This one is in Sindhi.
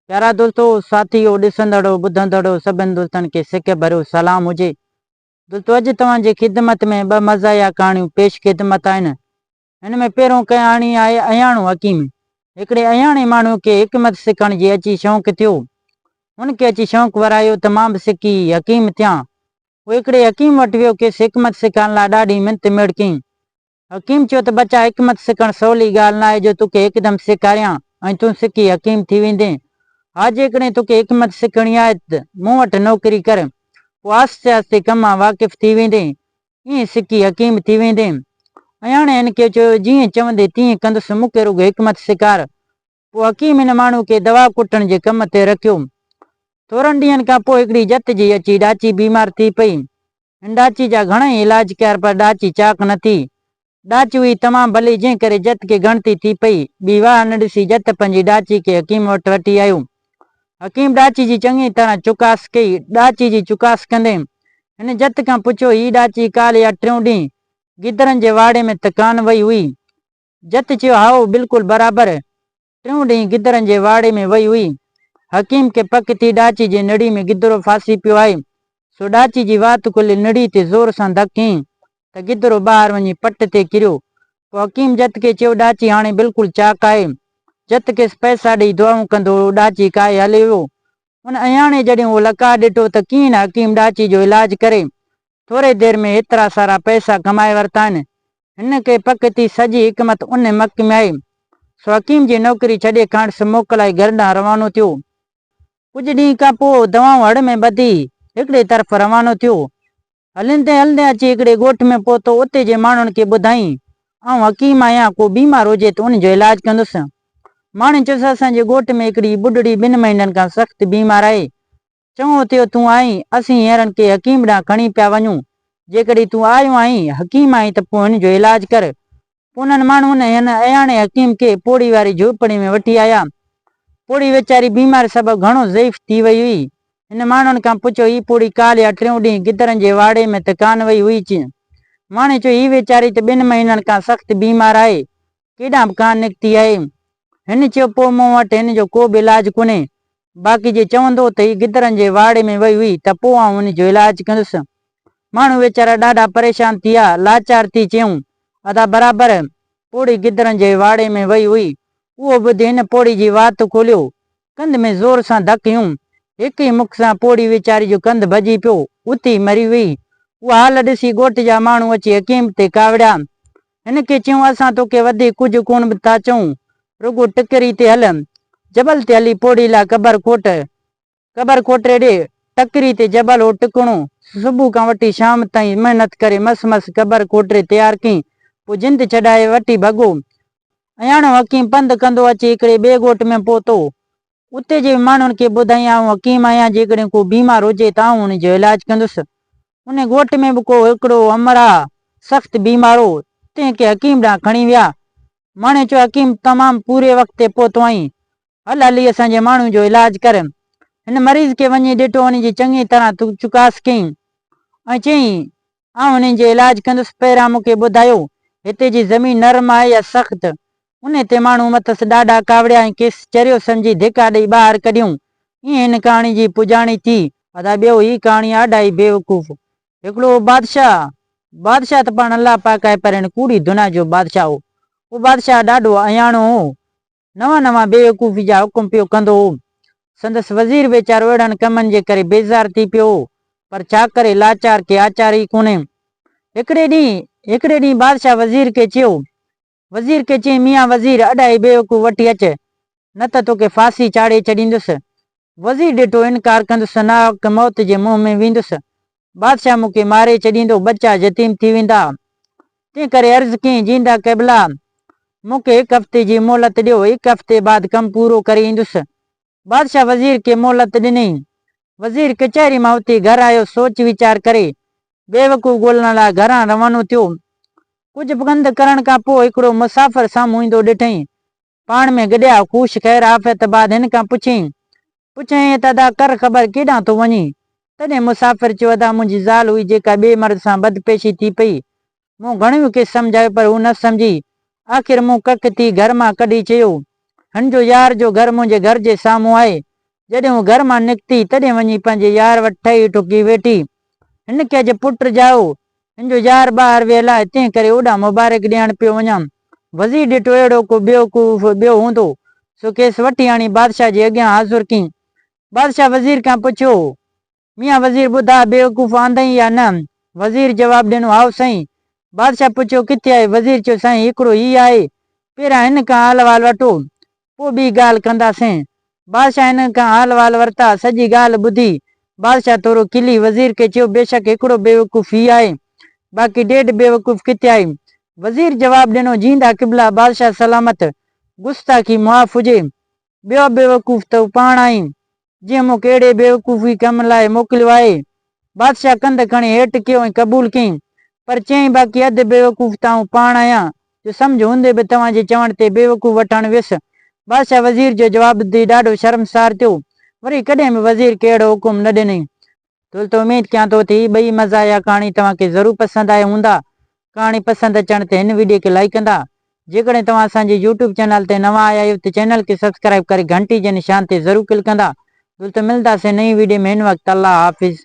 پيارا دوستو، ساٿيو، ڏسندڙو، ٻڌندڙو سڀن دوستن کي سڪ ڀريو سلام هجي. دوستو اڄ توهان جي خدمت ۾ ٻه مزاحيه ڪهاڻيون پيش خدمت آهن. هن ۾ پهريون ڪهاڻي آهي اهياڻو حڪيم. هڪڙي اهياڻي ماڻهو کي حڪمت سکڻ جي اچي شوق ٿيو. هن کي اچي شوق ورايو ته مان به سکي حڪيم ٿيان. هو هڪڙي حڪيم وٽ ويو کيس حڪمت سکائڻ لاء ڏاڍي منت ميڙ ڪيائين. حڪيم چيو ته ٻچا حڪمت سکڻ سولي ڳالهه ناهي جو توکي هڪدم سيکاريان ۽ تون سکي حڪيم ٿي ويندين. ها جيڪڏهن توکي حڪمت سکڻي آهي ته مون وٽ نوڪري ڪر پوء آهستي آهستي ڪم مان واقف ٿي ويندين ائين سکي حڪيم ٿي ويندين. اياڻي هن کي چيو جيئن چوندين تيئن ڪندس مون کي رڳو حڪمت سيکار پوء حڪيم هن ماڻهوء کي دوا ڪٽڻ جي ڪم تي رکيو. ٿورن ڏينهن کان پوء هڪڙي جت جي اچي ڏاچي بيمار ٿي پئي. هن ڏاچي جا گهڻائي علاج ڪيا پر ڏاچي چاق نه ٿي. ڏاچي هئي تمام ڀلي جنهن ڪري جت کي ڳڻتي ٿي پئي. ٻي واهه نه ڏسي جت پنهنجي ڏاچي کي حڪيم وٽ وٺي آيو. حڪيم ڏاچي جي چڱي طرح چڪاس ڪئي. ڏاچي جي چڪاس ڪندي هن جت کان پڇيو هي ڏاچي ڪالهه يا ٽيون ڏينهن گدرن جي واڙي ۾ ته ڪانه وئي هئي؟ جت چيو، هائو، بلڪل برابر. ٽيون ڏينهن گدرن جي واڙي ۾ وئي هئي. حڪيم کي پڪ ٿي ڏاچي جي نڙي ۾ گدرو ڦاسي پيو آهي، سو ڏاچي جي وات کليل نڙي تي زور سان ڌڪ هنئي ته گدرو ٻاهر وڃي پٽ تي ڪريو. پوء حڪيم جت کي چيو، ڏاچي هاڻي بلڪل چاڪ آهي. جت کيس پئسا ڏيئي دعائون ڪندو هو. ڏاچي ڪاهي هلي ويو. ان اياڻي جڏهن اهو لقاء ڏٺو ته ڪيئن نه حڪيم ڏاچي جو علاج ڪري، ٿوري دير ۾ ايترا سارا پئسا ڪمائي ورتا آهن. هن کي پڪ ٿي سڄي حڪمت ان مڪ ۾ آئي. سو حڪيم جي نوڪري ڇڏي کانئس موڪلائي گهر ڏانهن روانو ٿيو. ڪجهه ڏينهن کان پوء دوائون هڙ ۾ ٻڌي هڪڙي طرف روانو ٿيو. هلندي هلندي اچي هڪڙي ڳوٺ ۾ پهتو اتي جي ماڻهن کي ٻڌائين آئون حڪيم آهيان ڪو بيمار هجي ته ان جو علاج ڪندس. ماڻهن چيس اسان جي ڳوٺ ۾ هڪڙي ٻڍڙي ٻن مهينن کان سخت بيمار آهي چڱو ٿيو تون آئين، اسين هينئرن ڪنهن حڪيم ڏانهن کڻي پيا وڃون. جيڪڏهن تون آيو آهين، حڪيم آهين ته پوء هن جو علاج ڪر. انهن ماڻهن هن اياڻي حڪيم کي پوڙهي واري جهوپڙي ۾ وٺي آيا. پوڙهي ويچاري بيماري سبب گهڻو ضعيف ٿي وئي هئي. هن ماڻهن کان پڇيو هي پوڙهي ڪالهه يا ٽيون ڏينهن گدڙن جي واڙي ۾ ته ڪانه وئي هئي چين؟ ماڻهن چيو هي ويچاري ته ٻن مهينن کان سخت بيمار آهي. ڪيڏانهن به ڪانه نڪتي آهي. هن چيو، پوء مون وٽ هن جو ڪو به علاج ڪونهي. باقي جي چوندو ته هي گدڙن جي واڙي ۾ وئي هئي ته پوء آئون هن جو علاج ڪندس. ماڻهو ويچارا ڏاڍا پريشان ٿي ويا. لاچار ٿي چيائون، ادا برابر، پوڙهي گدڙن جي واڙي ۾ وئي هئي. اهو ٻڌي هن پوڙهي جي وات کوليو. ڪنڌ ۾ زور سان ڌڪ هنيون. هڪ ئي مک سان پوڙهي ويچاري جو ڪنڌ ڀڄي پيو. اتي ئي مري ويئي. اها حال ڏسي ڳوٺ جا ماڻهو اچي حڪيم تي ڪاوڙيا. هن کي چيائون، اسان توکي وڌيڪ ڪجهه ڪونه به ٿا چئون، رڳو ٽڪري تي هل. جبل تي هلي پوڙهي لاء قبر کوٽ. قبر کوٽي ڏي. ٽڪري تي جبل هو ٽڪڻو. صبح کان وٺي شام تائين محنت ڪري مس مس قبر کوٽي تيار ڪئين. پوء جند ڇڏائي وٺي ڀڳو. اهياڻو حڪيم پنڌ ڪندو اچي هڪڙي ٻئي ڳوٺ ۾ پهتو. اتي جي ماڻهن کي ٻڌائين آئون حڪيم آهيان جيڪڏهن ڪو بيمار هجي ته آئون ان جو علاج ڪندس. ان ڳوٺ ۾ به ڪو هڪڙو امرا سخت بيمار هو تنهن کي حڪيم ڏانهن کڻي ويا. ماڻهن چيو حڪيم تمام پوري وقت تي پهتو آهين هل هلي اسان جي ماڻهن جو علاج ڪر. هن مريض کي وڃي ڏٺو ان جي چڱي طرح چڪاس ڪيائين ۽ چيائين آئون انهن جو علاج ڪندس. پيرا مون کي ٻڌايو، هتي جي زمين نرم آهي يا سخت؟ ان تي ماڻهو مٿس ڏاڍا ڪاوڙيا ۽ کيس چريو سمجهي ڌڪا ڏئي ٻاهر ڪڍيائون. ائين هن ڪهاڻي جي پڄاڻي ٿي. ادا ٻيو هي ڪهاڻي آڊائي بيوقوف هڪڙو هو بادشاهه. بادشاهه ته پاڻ الله پاڪ آهي پر هن ڪوڙي دنيا جو بادشاهه هو. اهو بادشاهه ڏاڍو اهياڻو هو. نوان نوان بيوقوفي جا حڪم پيو ڪندو هو. سندس وزير ويچارو اهڙن ڪمن جي ڪري بيزار ٿي پيو هو، پر ڇا ڪري لاچار کي آچار ئي ڪونهي. هڪڙي ڏينهن هڪڙي ڏينهن بادشاهه وزير کي چيو. وزير کي چيائين ميان وزير ادا هي بيوقوف وٺي اچ، نه ته توکي ڦاسي چاڙهي ڇڏيندس. وزير ڏٺو ان ڪار ڪندس ثنا وقت موت جي منهن ۾ ويندس بادشاهه مون کي ماري ڇڏيندو ٻچا يتيم ٿي ويندا تنهن ڪري عرض ڪيائين جيندا قبلا مون کي هڪ هفتي جي مهلت ڏيو هڪ هفتي بعد ڪم پورو ڪري ايندس بادشاهه وزير کي مهلت ڏني وزير ڪچهري مان اٿي گهر آيو سوچ ويچار ڪري بيوقوف ڳولڻ لاء گهران روانو ٿيو ڪجهه پنڌ ڪرڻ کان پوء هڪڙو مسافر سامهون ايندو ڏٺئين پاڻ ۾ گڏيا خوش خير عافيت بعد هن کان پڇيائين پڇيائين ته ادا ڪر خبر ڪيڏانهن ٿو وڃين؟ تڏهن مسافر چيو ادا منهنجي زال هئي جيڪا ٻئي مرد سان بدپيشي ٿي پئي. مون گهڻيون کيس سمجهايو پر هو نه سمجهي. آخر مون ڪک ٿي گهر مان ڪڍي چيو هن جو يار جو گهر منهنجي گهر جي سامهون آهي جڏهن هوء گهر مان نڪتي، تڏهن وڃي پنهنجي يار وٽ ٺهي ٺڪي ويٺي. هن کي اڄ پٽ ڄائو. هن جو يار ٻاهر ويل آهي، تنهن ڪري اوڏانهن مبارڪ ڏيڻ پيو وڃان. وزير ڏٺو اهڙو ڪو بيوقوف ٻيو هوندو، سو کيس وٺي آڻي بادشاهه جي اڳيان حاضر ڪيائين. بادشاهه وزير کان پڇيو هو، ميان وزير ٻڌاء بيوقوف آندئين يا نه؟ وزير جواب ڏنو هائو سائين. بادشاهه پڇيو ڪٿي آهي؟ وزير چيو سائين هڪڙو هي آهي پهريان هن کان حال وال وٺو پوء ٻي ڳالهه ڪنداسين. بادشاهه هنن کان حال وال ورتا سڄي ڳالهه ٻڌي بادشاهه ٿورو کلي وزير کي چيو بيشڪ هڪڙو بيوقوف هي آهي باقي ڏيڍ بيوقوف ڪٿي آهي؟ وزير جواب ڏنو جيندا قبله بادشاهه سلامت گستاخي معاف هجي. ٻيو بيوقوف ته هو پاڻ آهين، جنهن مون کي اهڙي بيوقوفي ڪم لاء موڪليو آهي. بادشاهه ڪنڌ کڻي هيٺ ڪيو ۽ قبول ڪيائين، پر چيائين، باقي اڌ بيوقوف ته آئون پاڻ آهيان، جو سمجهه هوندي به توهان جي چوڻ تي بيوقوف وٺڻ ويس. بادشاهه وزير جو جواب ٻڌي ڏاڍو شرمسار ٿيو. وري ڪڏهن به وزير کي اهڙو حڪم نه ڏنائين. ٿل ته اميد ڪيان ٿو تھ اھي ٻئي مزاح يا ڪھاڻي توھان کي ضرور پسند آيا ھوندا. ڪھاڻي پسند اچڻ تي ھن وڊيو کي لائيڪ ڪندا. جيڪڏھن توھان اسان جي يوٽيوب چينل تي نوان آيا آھيو تھ چينل کي سبسڪرائيب ڪري گھنٽي جي نشان تي ضرور ڪلڪ ڪندا. جلد ملنداسين نئين وڊيو ۾ ان وقت الله حافظ.